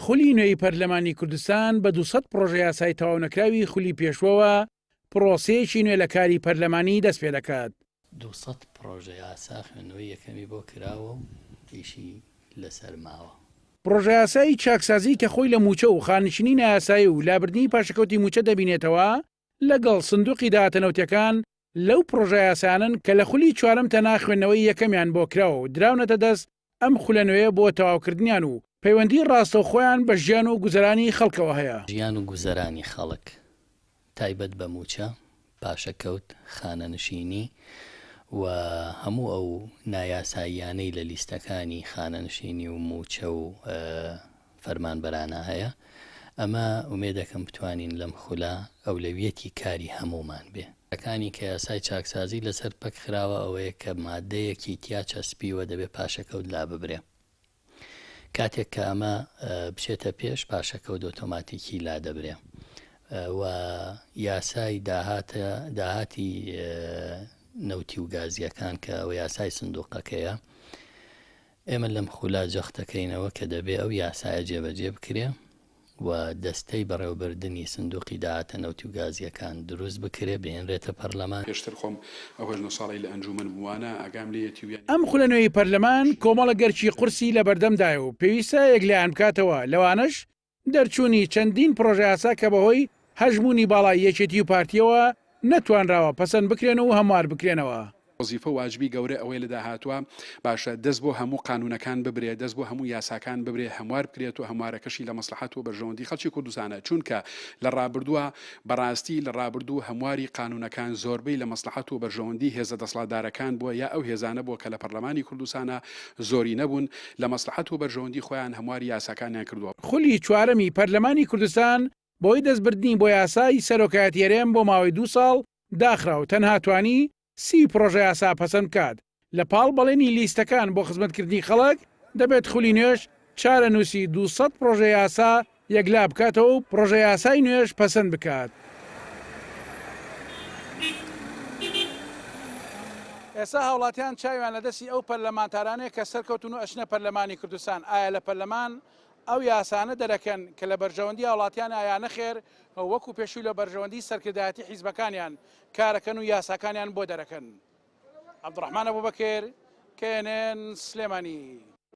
خولی نوێی پەرلەمانی کوردستان بە دوو سەد پڕۆژەیاسای تەواونەکراوی خولی پێشووەوە پڕۆسەیەکی نوێ لە کاری پەرلەمانی دەست پێ دەکات. دوو سەد پڕۆژەیاسا خوێندنەوەی یەکەمی بۆ کراوە و ئیشی لەسەر ماوە. پڕۆژەیاسای چاکسازی کە خۆی لە مووچە و خانشینی نایاسایی و لابردنی پاشەکەوتی مووچە دەبینێتەوە، لەگەڵ سندوقی داهاتە نەوتیەکان لەو پڕۆژە یاسایانەن کە لە خولی چوارەم تەنها خوێندنەوەی یەکەمیان بۆ کراوە و دراونەتە دەست ئەم خولە نوێیە بۆ تەواوکردنیان و پەیوەندی ڕاستەوخۆیان بە ژیان و گوزەرانی خەڵکەوە هەیە. ژیان و گوزەرانی خەڵک تایبەت بە مووچە، پاشەکەوت، خانەنشینی و هەموو ئەو نایاساییانەی لە لیستەکانی خانەنشینی و مووچە و فەرمانبەرانە هەیە، ئەمە ئومێدەکەم بتوانین لەم خولە ئەولەویەتی کاری هەموومان بێ. ەکانی کە یاسای چاکسازی لەسەر پەک خراوە ئەوەیە کە ماددەیەکی تیا چەسپیوە دەبێ پاشەکەوت لاببرێ کاتێک کە ئەمە بچێتە پێش پاشەکەوت ئۆتۆماتیکی لادەبرێ و یاسای داهاتە داهاتی نەوتی و گازییەکان کە ئەوە یاسای سندوقەکەیە ئێمە لەم خوولا جەختدەکەینەوە کە دەبێ ئەو یاسایە جێبەجێ بکرێ و دەستەی بەڕێوەبردنی سندووقی داهاتە نەوتی و گازییەکان دروست بکرێ، بهێنرێتە پەرلەمان. پێشتر خۆم ئەو هەژدە ساڵەی لە ئەنجوومەن بووم وانە ئاگام لێیەتی و یان. ئەم خولە نوێی پەرلەمان کۆمەڵە گەرچی قورسی لەبەردەمدایە و پێویستە یەکلایەن بکاتەوە، لەوانەش دەرچوونی چەندین پڕۆژەیاسا کە بەهۆی هەژموونی باڵای یەکێتی و پارتییەوە نەتوانراوە پەسەند بکرێن و هەموار بکرێنەوە. وەزیفە و واجبی گەورە ئەوەیە لە داهاتووە باشە دەست بۆ هەموو قانوونەکان ببرێت، دەست بۆ هەموو یاساکان ببرێت، هەموار بکرێت و هەموارەکەشی لە مەسڵەحەت و بەرژەوەندی خەڵکی کوردستانە، چوونکە لە ڕابردووە بەڕاستی لە ڕابردوو هەمواری قانوونەکان زۆربەی لە مەسڵەحەت و بەرژەوەندی هێزە دەسڵاتدارەکان بووە یا ئەو هێزانە بووە کە لە پەڕلەمانی کوردستانا زۆرینە بوون لە مەسڵەحەت و بەرژەوەندی خۆیان هەمواری یاساکانیان کردووە. خولی چوارەمی پەرلەمانی کوردستان بەهۆی دەستبردنی بۆ یاسای سەرۆکایەتی هەرێم بۆ ماوەی دوو ساڵ داخرا و تەنها توانی سی پڕۆژەیاسا پەسەند بکات لە پاڵ بەڵێنی لیستەکان بۆ خزمەتکردنی خەڵک دەبێت خولی نوێش چارەنووسی دوو سەد پڕۆژەیاسا یەکلا بکاتەوە و پڕۆژەیاسای نوێش پەسەند بکات. ئێستا هاوڵاتیان چاویان لە دەستی ئەو پەرلەمانتارانەیە کە سەرکەوتون و ئەچنە پەرلەمانی کوردستان، ئایا لە پەرلەمان ئەو یاسانە دەرەکەن کە لە بەرژەوەندی هاوڵاتیانە یا نەخێر و وەکو پێشوی لە بەرژەوەندی سەرکردایەتی حیزبەکانیان کارەکەن و یاساکانیان بۆ دەرەکەن؟ عەبدوڕەحمان ئەبوبەکر، knn، سلێمانی.